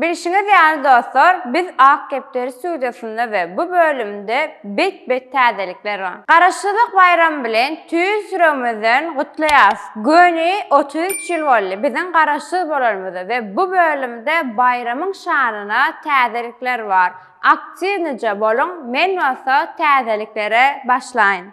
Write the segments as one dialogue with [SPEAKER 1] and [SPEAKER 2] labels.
[SPEAKER 1] Bilşiňiz ýaly dostlar, biz Ak depder studiýasynda we bu bölümde bet-bet täzelikler bar. Garaşsyzlyk baýramy bilen tüýs ýüregimizden gutlaýarys! Göni otuz üç ýyl boldy biziň Garaşsyz bolanymyza we bu bölümde baýramyň şanyna täzelikler bar. Aktiwnyja boluň, men bolsa täzeliklere başlaýyn.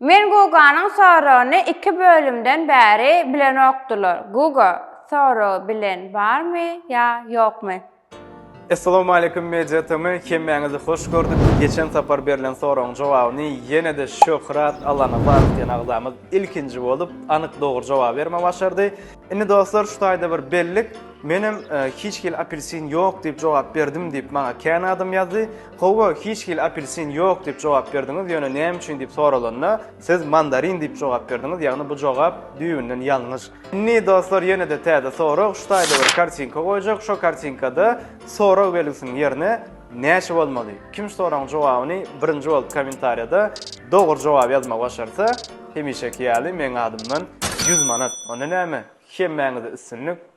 [SPEAKER 2] Men
[SPEAKER 1] Guganyň soragyny iki bölümden bäri bilenokdylar. Guga, soragy bilen barmy ýa ýokmy?
[SPEAKER 3] Essalowmaleýkum Media TM, hemmäňizi hoş gördük. Geçen sapar berlen soragyň jogabyny ýene-de Şöhrat Allanazarov diýen agzamyz ilkinji bolup, anyk dogry jogaby bermegi başardy. Indi dostlar şu taýda bir bellik, menem hiç hili apelsin ýok diýip jogap berdim diýip maňa kän adam ýazdy. Howwa, hiç hili apelsin ýok diýip jogap berdiňiz, ýöne näme üçin diýip soralanda, siz mandarin diýip jogap berdiňiz, ýagny bu jogap düýbünden ýalňyş. Indi dostlar ýene-de täze sorag, şu taýda bir kartinka goýjak, şo kartinkada sorag belgisiniň ýerine näçe bolmaly? Kim şu soragyň jogabyny birinji bolup kommentariýada dogry jogaby ýazmagy başarsa, hemişeki ýaly meň adymdan ýüz manat. Onda näme, hemmäňize üstünlik!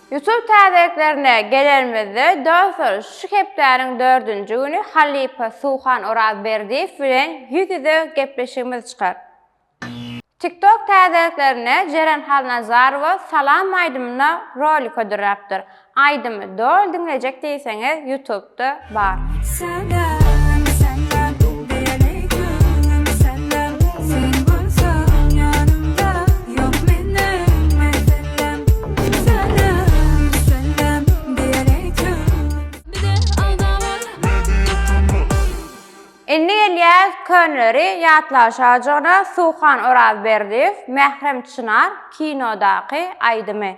[SPEAKER 1] Ýusup täzeliklerine gelenimizde, dostlar, şu hepdäniň dördünji güni halypa Suhan Orazberdiýew bilen ýüz-ýüze gepleşigimiz çykar. TikTok täzeliklerine Jeren Halnazarowa salam aýdymyna rolik hödürläpdir. Aýdymy doly diňlejek diýseňiz, Ýutubda.
[SPEAKER 2] bar.
[SPEAKER 1] Indi gelýäs könleri ýatlaşajygyna Suhan Orazberdiýew, Mährem Çynar kinodaky aýdymy.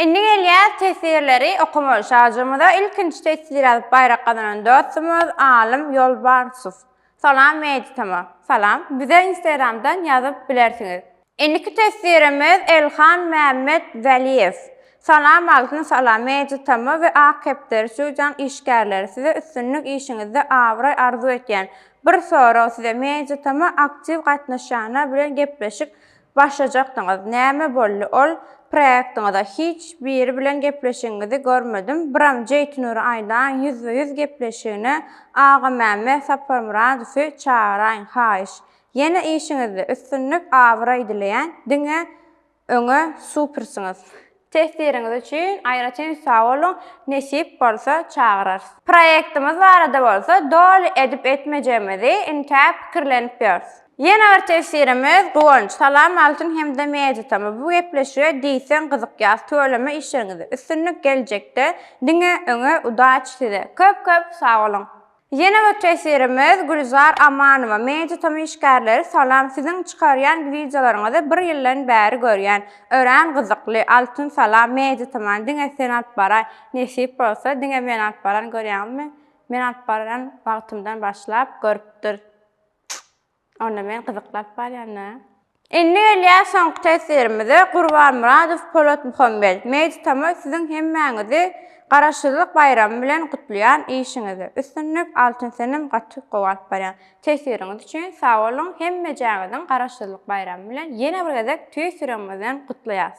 [SPEAKER 1] Indi gelýäs teswirleri okamaga. Şajymyza ilkinji teswir ýazyp baýrak gazanan dostumyz Alym Ýolbarsow. Salam Meditama. Salam. Bize Instagramdan ýazyp bilersiňiz. Indiki teswirimiz Elhan Mämmet Weliýew. Salam Altyn Salam Meditama we Ak kepderi Studiýanyň işgärleri. Size üstünlik işiňizde abraý arzuw etýän. Bir sorag size mejitama aktiw gatnaşýanlar bilen gepleşik başlajakdyňyz näme boldy ol proektiňize hiç biri bilen gepleşigiňizi görmedim biram jeýtinur aýlaň ýüzbe ýüz gepleşigine agamämme saparmyradowy çagaraýyň haýyş ýene işiňizde üstünlik abraý dileýän diňe Öňe supersiňiz. Tesiriňiz üçin aýratyn sag boluň, nesip bolsa çagyrarys. Proýektimiz barada bolsa doly edip etmejegimizi intä pikirlenip ýörüs. Ýene bir tesirimiz Guwanç. Salam Altyn hem-de Meditama bu gepleşige diýseň gyzykýas tüweleme işleriňizde üstünlik geljekde diňe öňe udaçi size köp köp sag boluň. Ýene bir tesirimiz Gülzar Amanowa media tomy işgärleri salam siziň çykarýan wideolaryňyzy bir ýyldan bäri görýän örän gyzykly Altyn salam media toman diňe sen alyp baraý nesip bolsa diňe men alyp baran görýäňizmi men alyp baran wagtymdan başlap görüpdir Onda men gyzykly alyp barýan-da. Indi gelýär soňky teswirimize, Gurbanmyradow Polatmuhammet, Meýditama siziň hemmäňizi Garaşsyzlyk baýramy bilen gutlaýan, işiňizde üstünlik, Altyn Senem gaty gowy alyp barýaň. Teswiriňiz üçin sag boluň, hemmejäňiziň Garaşsyzlyk baýramy bilen ýene bir gezek tüýs ýüregimizden gutlaýas.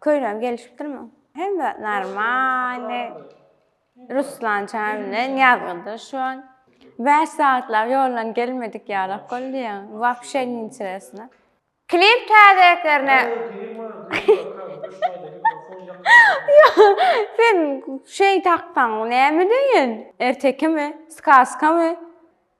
[SPEAKER 1] Köýnegim gelişipdirmi? Hem zat normalny. Ruslan çaga bilen ýazgyda şu an. Bäş sagatlag ýoldan gelmedik ýalak boldy ýaňy. Wapşe ninteresno. Klip täzeliklerine Sen şeý taksaň näme deýin? Ertekimi? Skazkamy?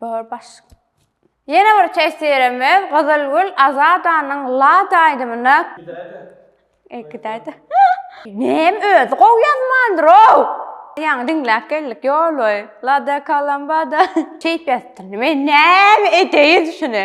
[SPEAKER 1] Bor baş. Ýene bir tesirimiz Gyzylgül Azadanyň Lada aýdymyna. Gidäýde. E gidäýde. Näm özi gowy ýazmandyr-ow. Ýaňy diňläp geldik ýoly. Lada kalambada. Keýp ýatypdyr. Men näme edeýin şuny.